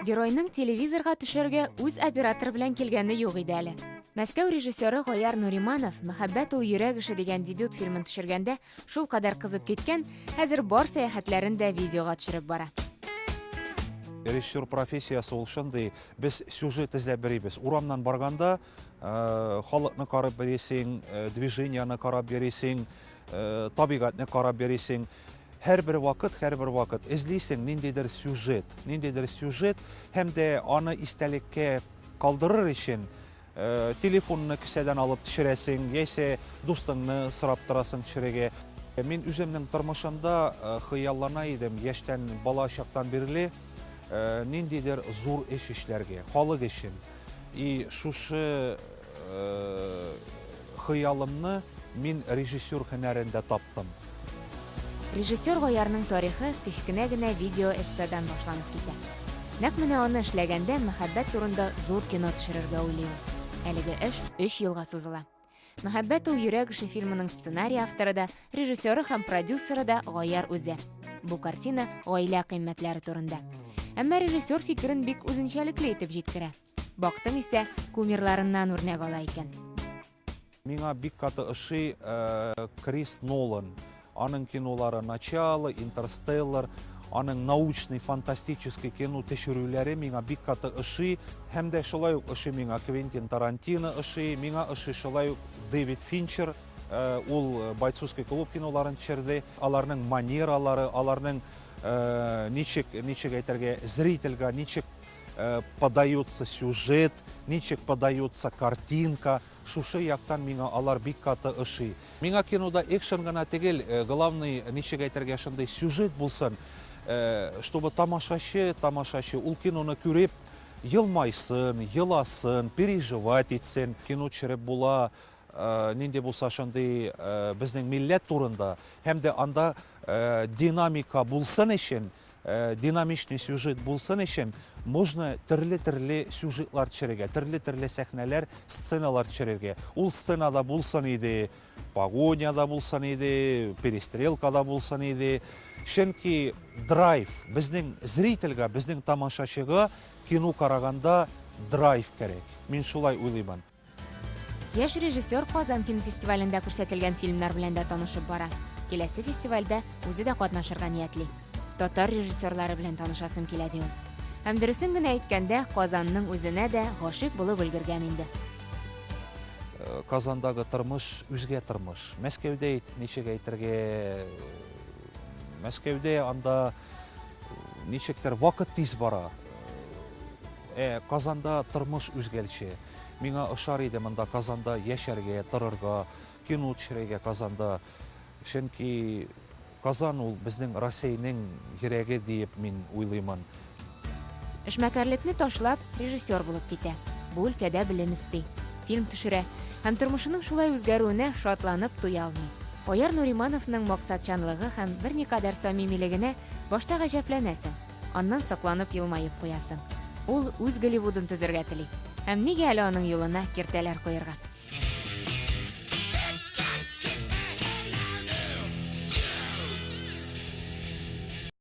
Геройның телевизорга төшәргә үз оператор белән килгәне юк иде әле. Мәскәү режиссеры Гаяр Нуриманов Мәхәббәт ул йөрәк эше дигән дебют фильмын төшергәндә шул кадәр кызып киткән, хәзер бар сәяхәтләрен дә видеога төшереп бара. Режиссер профессиясе ул шундый, без сюжет эзләп берибез. Урамнан барганда, халыкны карап бересең, движениены карап бересең, табигатьне карап бересең. Һәр бер вакыт, һәр бер вакыт эзлисең ниндидер сюжет, ниндидер сюжет, һәм дә аны истәлеккә калдырыр өчен телефонны кесәдән алып төшерәсең, яисә дустыңны сорап торасың төшерергә. Мин үземнең тормышымда хыяллана идем, яшьтән бала чактан бирле ниндидер зур эш эшләргә, халык өчен. И шушы э, хыялымны мин режиссер һөнәрендә таптым. Режиссер Гаярның тарихы кечкенә генә видео эсседан башланып китә. Нәкъ менә аны эшләгәндә мәхәббәт турында зур кино төшерергә уйлый ул. Әлеге эш өч елга сузыла. Мәхәббәт ул йөрәк эше фильмының сценарий авторы да, режиссеры һәм продюсеры да Гаяр үзе. Бу картина гаилә кыйммәтләре турында. Әмма режиссер фикерен бик үзенчәлекле итеп җиткерә. Бактың исә кумирларыннан үрнәк ала икән. Миңа бик каты ошый э, Крис Нолан. Аның кинолары Начало, Интерстеллар, аның научный, фантастический кино төшерүләре миңа бик каты ошый. Һәм дә шулай ук ошый миңа Квентин Тарантино ошый, миңа ошый шулай ук Дэвид Финчер. Э, ул э, бойцовский клуб киноларын төшерде. Аларның манералары, аларның э, ничек, ничек әйтергә, зрительгә ничек подается сюжет, ничек подается картинка, шушы яктан миңа алар бик каты ошый. Миңа кинода экшен гына тегел, главный ничек әйтергә шундый сюжет булсын, чтобы тамашачы, тамашачы ул киноны күреп елмайсын, еласын, переживать итсен. Кино төшереп була, нинди булса шундый безнең милләт турында һәм дә анда динамика булсын өчен Динамичный сюжет булсын өчен, нужно төрле-төрле сюжетлар төшерергә, төрле-төрле сәхнәләр, сценалар төшерергә. Ул сцена да булсын иде, погоня да булсын иде, перестрелка да булсын иде. Чөнки драйв, безнең зрительгә, безнең тамашачыга кино караганда драйв кирәк. Мин шулай уйлыймын. Яшь режиссер Казан кинофестивалендә күрсәтелгән фильмнар белән дә танышып бара. Киләсе фестивальдә үзе дә катнашырга ниятли. Татар режиссерлары белән танышасым килә ди ул. Һәм дөресен генә әйткәндә, Казанның үзенә дә гашыйк булып өлгергән инде. Э, Казандагы тормыш үзгә тормыш. Мәскәүдә әйт, ничек әйтергә? Э, Мәскәүдә анда э, ничектер вакыт тиз бара. Ә Казанда тормыш үзгәлче. Миңа ошар иде монда Казанда яшәргә, торырга, кино төшерәйгә Казанда. Чөнки Казан ул безнең Росейның йөрәге диеп мин уйлыймын. Эшмәкәрлекне ташлап, режиссер булып китә. Бу өлкәдә белем эсти. Фильм төшерә. Һәм тормышының шулай үзгәрүенә шатланып туя алмый. Айяр Нуримановның максатчанлыгы һәм берникадәр самимилегенә башта гаҗәпләнәсең. Аннан сокланып елмаеп куясың. Ул үз Голливудын төзергә тели. Һәм нигә әле аның юлына киртәләр куерга?